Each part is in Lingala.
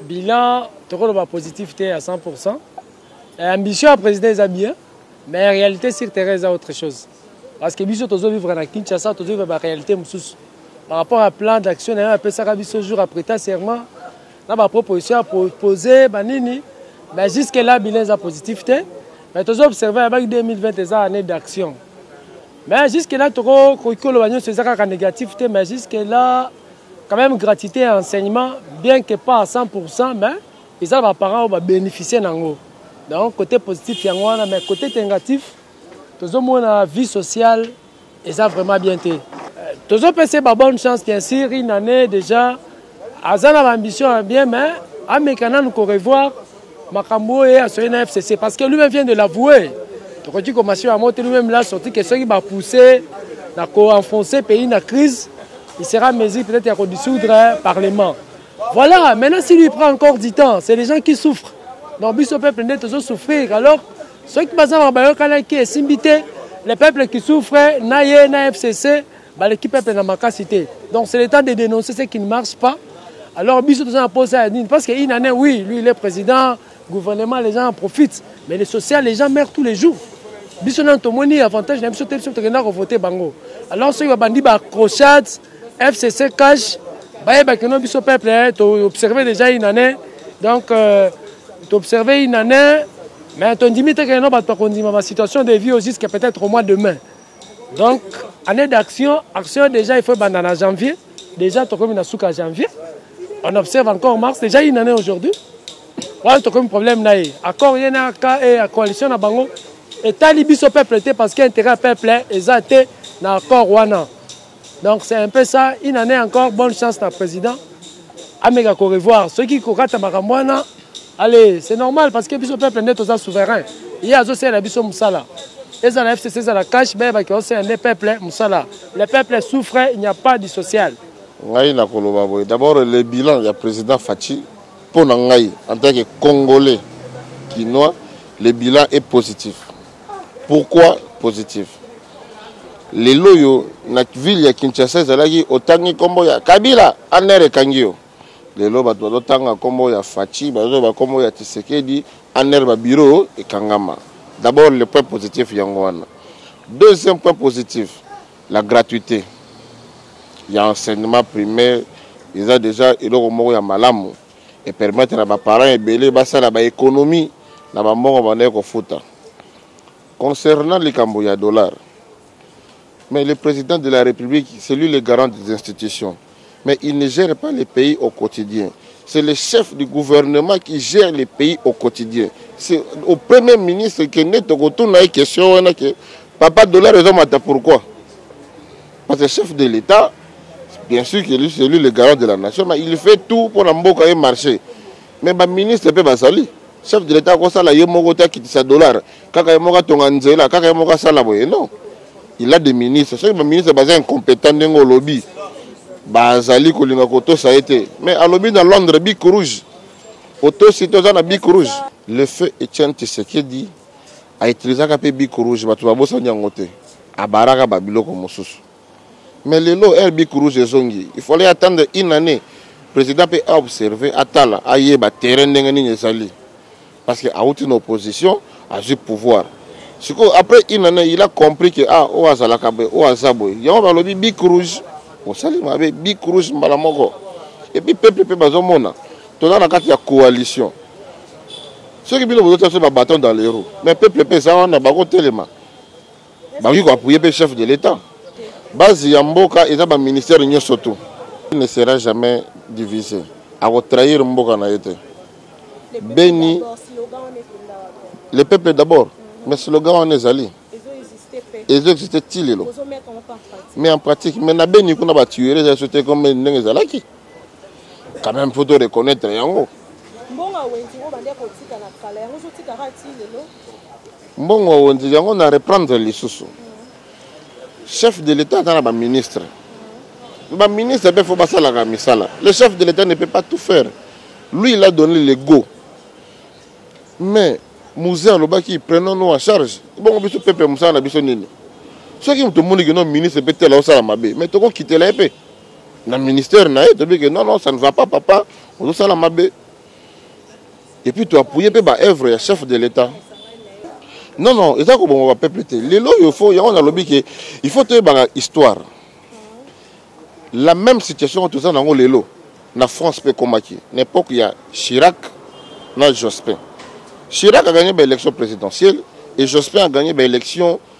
Bilan toko loba positif te ya 100 pourcent. Eh, ambition ya president eza bien, mais realite sur terrain eza autre chose. Parce que biso tozo vivre na Kinshasa, tozo vivre ba realite mosusu. Par rapport à plan d'action na yo apesaka biso jour après ta serment, na ba proposition ya proposer ba nini, mais jusque là bilan eza positif te. Mais tozo observer ya baki 2020 eza année d'action. Mais jusque là toko koki koloba nyonso eza kaka négatif te, mais jusque là Quand même gratuite ya enseignement bien que pas à 100% mais eza na ba parents oyo ba beneficier nango. Donc cote positif yango wana mais cote negatif tozomona vie sociale eza vraiment bien te. Euh, tozopesa ye ba bonne chance bien sûr une année déjà aza na ba ambition ya bien mais ameka nanu ko revoir makambo oyo ye asoye na fcc parce que lui-même vient de l'avouer tokoki komasio yango te lui-même la sorti ke soki bapousse na koenfonce pays na crise il sera mesure peut-être ya kodissoudre parlement voilà maintenant si lui prend encore du temps c'est les gens qui souffrent donc biso peuple nde tozosouffrir alors soki baza mabayokanaki esimbi te le peuple qui souffre na ye na fcc Baleki peuple na makasi te. Donc c'est le temps de dénoncer ce qui ne marche pas. Alors biso toza na posa ya nini parce que une année oui, lui il est président, gouvernement les gens en profitent, mais le social les gens meurent tous les jours. Biso nanu tomoni avantage na biso te biso tokenda ko voter bango. Alors soki babandi ba crochades, FCC cash, bayeba que non biso peuple eh, to observer déjà une année. Donc euh, to observer une année mais tondimi te que non bato bakondima ba situation de vie jusqu'à peut-être au mois de mai. donc année d'action action déjà il faut ebanda na janvier déjà tokomi na suka janvier on observe encore mars déjà une année aujourd'hui wana tokomi problème na ye accord ye na ka e ya coalition na bango etali biso peuple te parce que intérêt ya peuple eza te na accord wana donc c'est un peu ça une année encore bonne chance na président ameka ko revoir soki kokata makambo wana allez c'est normal parce que biso peuple nde toza souverain ye azosalela biso mosala ezala fcc ezala cash bayebaki osala nde peuple mosala le peuple souffre il n'y a pas du social ngai nakoloba boye d'abord le bilan ya président faci mpo na ngai en tant que congolais kinois le bilan est positif Pourquoi positif? Lelo oyo na ville ya Kinshasa ezalaki otangi kombo ya Kabila en air ekangi yo. Lelo bato bazotanga kombo ya Fatshi, bazoloba kombo ya Tshisekedi en air ba bureaux ekangama. D'abord le point positif yango wana. Deuxième point positif, la gratuite ya enseignement primaire eza dejà eloko moko ya malamu. e permettre na ba parents ebele basala ba economie na ba mbongo bandaki kofuta concernant likambo ya dollar mais le président de la république c'est lui le garant des institutions mais il ne gère pas le pays au quotidien c'est le chef du gouvernement qui gère le pays au quotidien c'est au premier ministre kende tokotuna ye question wana ke papa dollar ezomata pourquoi Parce que chef de l'État, bien sûr que c'est lui le garant de la nation, mais il fait tout pour la mboka et marché. Mais ba ministre pe bazali. Chef de l'État akosala ye moko te akitisa dollar. Kaka ye moko atonga nzela, kaka ye moko asala boye. Non. Il a des ministres. Soki ba ministre baza incompétent ndenge olobi, bazali kolinga kotosa ye te. Mais alobi na Londres bic rouge. Otosi toza na bic rouge. Le feu Etienne Tshisekedi A utilisaka pe bic rouge batu ba bosani yango te a baraka ba biloko mususu mais lelo heure bic rouge ezongi il fallait attendre une annee president pe a observer atala ayeba terrain ndenge nini ezali parce que awuti na opposition azui pouvoir sikoyo après une annee il a compris que ah oyo azalaka boye oyo aza boye yango balobi bic rouge osali mabe bic rouge mbala moko epuis peuple mpe bazomona toza na kati ya coalition soki bino bozo tia ba bâton dans les roues mais peuple pe eza wana bako telema bakoki ko appuyer pe chef de l'état base ya mboka eza ba ministère nyonso tout il ne sera jamais divisé ako trahir mboka na ye te beni le peuple d'abord mais slogan wana ezali ezo existe ti lelo mais en pratique mais na beni kuna ba tuerie eza so te comme ndenge ezalaki quand même faut to reconnaître yango mbongo ya wenzi oyo bande kotika na kala yango ozotika kaka ti lelo mbongo ya wenzi yango na reprendre lisusu mm. chef de l'état aza na baministre mm. baministre mpe fo basalaka misala le chef de l'état ne peut pas tout faire lui il a donné le go mais musée alobaki prenons nous en charge bongo biso pepe mosala na biso nini soki moto omoniki no ministre mpe tela osala mabe mais tokokitela ye mpe na ministère na ye toyebi ke non non ça ne va pas papa ozosala mabe et puis to appuyer mpe ba œuvre ya chef de l'état non non eza koboma ba peuple te lelo oyo fo yango nalobi ke il faut toyebaka histoire la même situation oyo toza na yango lelo na france mpe ekomaki na époque ya chirac na jospin chirac aganye baélection présidentielle et jospin aganye baélection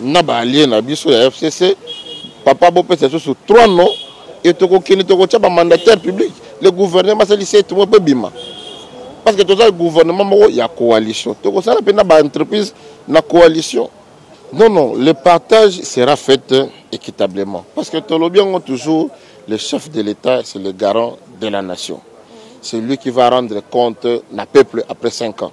na ba alliés na biso ya FCC papa bopesa lisusu 3 non et tokokende tokotya ba mandataire public le gouvernement asali 7 mois mpo ebima parce que toza gouvernement moko ya coalition tokosala mpe na ba entreprise na coalition non non le partage sera fait équitablement parce que tolobi yango toujours le chef de l'état c'est le garant de la nation c'est lui qui va rendre compte na peuple après 5 ans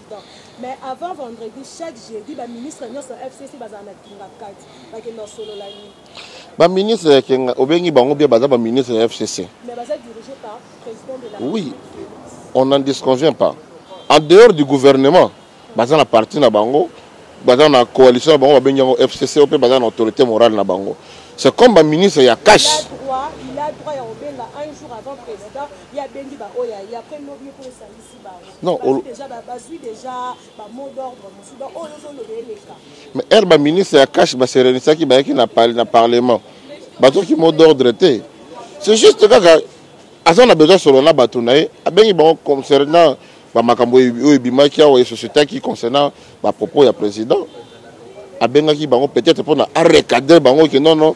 Mais avant vendredi chaque jeudi ba ministre nionso ya FCC bazala na kingakati bakenda kosolola nini? Ba ministre ya kinga obengi bango bien baza ba ministre ya FCC. Mais baza dirige par president de la Republique. Oui on n'en disconvient pas. En dehors du gouvernement, baza na parti na bango, baza na coalition na bango babengi yango FCC mpe baza na autorité morale na bango. C'est comme ba ministre ya cash. Il a droit ya kobenga un jour avant président ya bengi ba oyo ya après lobi mpo esangisi Non, ol... Mais heure ba ministre ya cash ba serenisaki bayaki na parle na parlement. Bazoki mot d'ordre te. C'est juste kaka aza na besoin solo na bato na ye abengi bango concernant bamakambo oyo ebimaki awa esosietaki concernant bapropos ya président abengaki bango peut-être mpona arecadre bango ke nono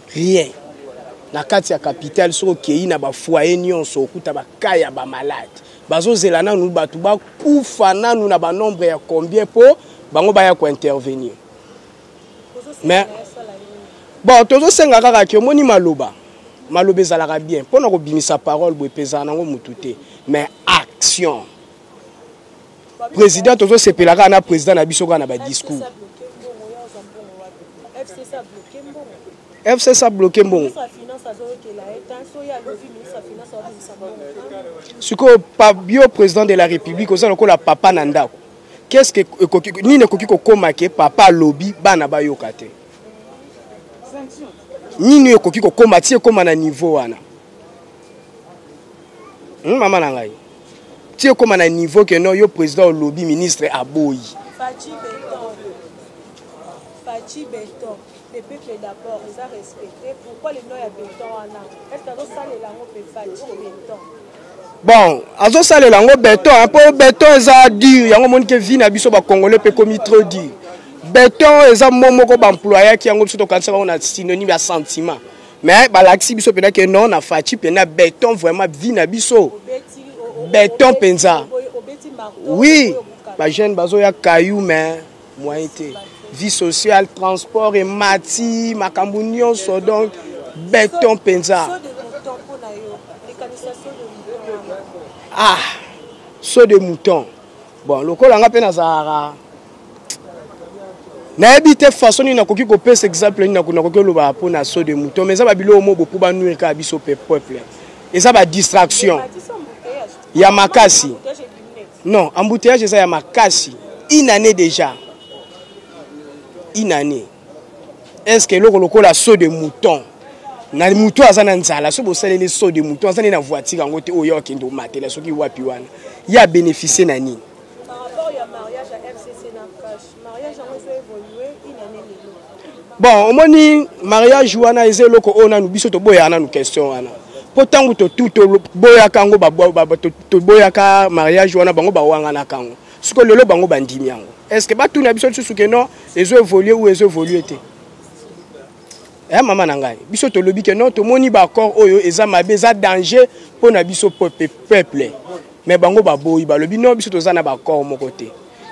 Rien. Na kati ya capitale soki okeyi na ba foyer nionso okuta ba cas ya ba malades. Bazo zela nanu batu ba kufa nanu na ba nombre ya combien po bango baya ko intervenir. Mais Bon tozo senga kaka ke omoni maloba. Maloba ezalaka bien pona ko bimisa parole boye pe ezalaka nango mutu te mais action. President tozo sepela kaka na president na biso kaka na ba discours. FCC a bloqué mbongo. Sikoyo yo president de la République oza lokola papa na ndako. Qu'est-ce que ekoki nini ekoki kokoma ke papa alobi bana bayoka te? Nini ekoki kokoma ti ekoma na niveau wana? Hmm, mama na ngai. ti ekoma na niveau que non yo président olobi ministre aboyi Fatshi Beton. Fatshi Beton. Le peuple d'abord, les a respectés. Pourquoi le nom ya Beton wana Est-ce que azosalela yango mpe Fatshi Beton bon azosalela yango beton mpo beton eza dur yango omoni ke vie na biso bacongolais mpe ekomi trop dur beton eza mo moko baemployaki yango biso tokanisaka yango na synonyme ya sentiment mais balakisi biso mpenza ke non na faci mpenza beton vraiment vie na biso beton mpenza oui bajeune bazoya kayu mais moyen te vie sociale transport emati makambo nyonso donc beton mpenza ah saut de mouton bon lokola nga mpe nazalaka nayebi te façon nini nakoki kopesa exemple nini nakoki oloba mpo na so de mouton mais eza babiloko moko bopo banuire kaka biso pe peuple eza badistraction ya makasi non embouteillage eza ya makasi une année déjà une année est ce que eloko lokola so de mouton na moto aza na nzala soki bosaleli so de mouton aza nde na voiture yango te oyo akende omatela soki wapi wana ye abénéficie na nini Par rapport ya mariage ya FCC na Kash, mariage yango ezo evoluer une année lelo. Bon, omoni mariage wana eza eloko oyo nanu biso toboyaka nanu question wana mpo ntango toboyaka yango toboyaka mariage wana bango bawanganaka yango siko lelo bango bandimi yango est ce que batuna biso lisusu ke non ezo évolue ou ezo évolue te eh, mama na ngai biso tolobi ke non tomoni baaccord oyo eza mabe eza danger mpo na biso peuple mais bango baboyi balobi no biso toza na baccord moko te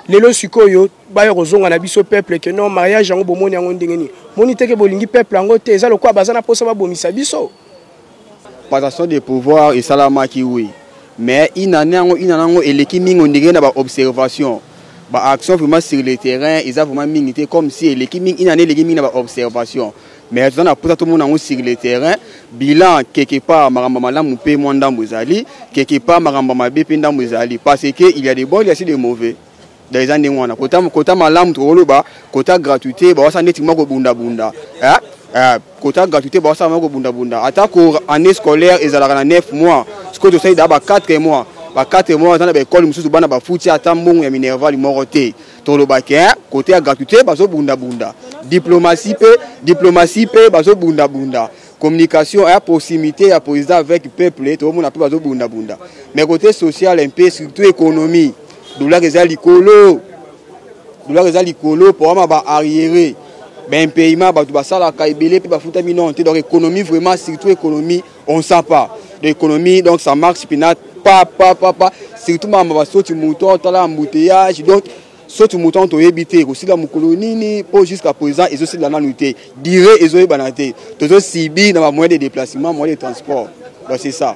lelo sikoyo baya kozonga na biso peuple ke non mariage yango bomoni yango ndenge nini moni teke bolingi peuple yango te eza lokola baza na mposa babomisa biso passation de pouvoir esalamaki wi mais inane yango inane yango eleki mingi ondenge na baobservation baaction vraiment sur le terrain eza vraiment mingi te comme si eleki mingi inane eleki mingi na baobservation mais toza na posa tomona yango sur le terrain bilan quelque part makambo ya malamu mpe mwa ndambo ezali quelque part makambo ya mabe mpe ndambo ezali parce que il y a de bon il y a si de mauvais donc eza ndenge wana kota, kota malamu tokoloba kota gratuité bawasa neti mwa kobundabunda eh? eh, kota gratuité bawasa mwa kobundabunda ata ko année scolaire ezalaka na 9 mois sikoyo tosali daa ba 4 mois ba 4 mois eza na baekole mosusu bana bafuti ata mbongo ya minerval moko te toloba ke kote ya gratuité bazobundabunda diplomatie mpe diplomatie mpe bazobundabunda communication ya proximité ya président avec peuple toomona mpe bazobundabunda mais kote social mpe surtout économie dollar eza likolo dollar eza likolo mpoama ba arriéré baimpayement bato basalaka ebele mpe bafutami nano te donc économie vraiment surtout économie on sent pas l'économie donc ça marche spinate pa pa pa pa surtout mama ba soti mouton tala embouteillage donc soti mouton toyebi te ekosila mokolo nini mpo jusqu'à présent ezosila nanu te dire ezoyebana te tozosibi na ba moyen de déplacement moyen de transport donc c'est ça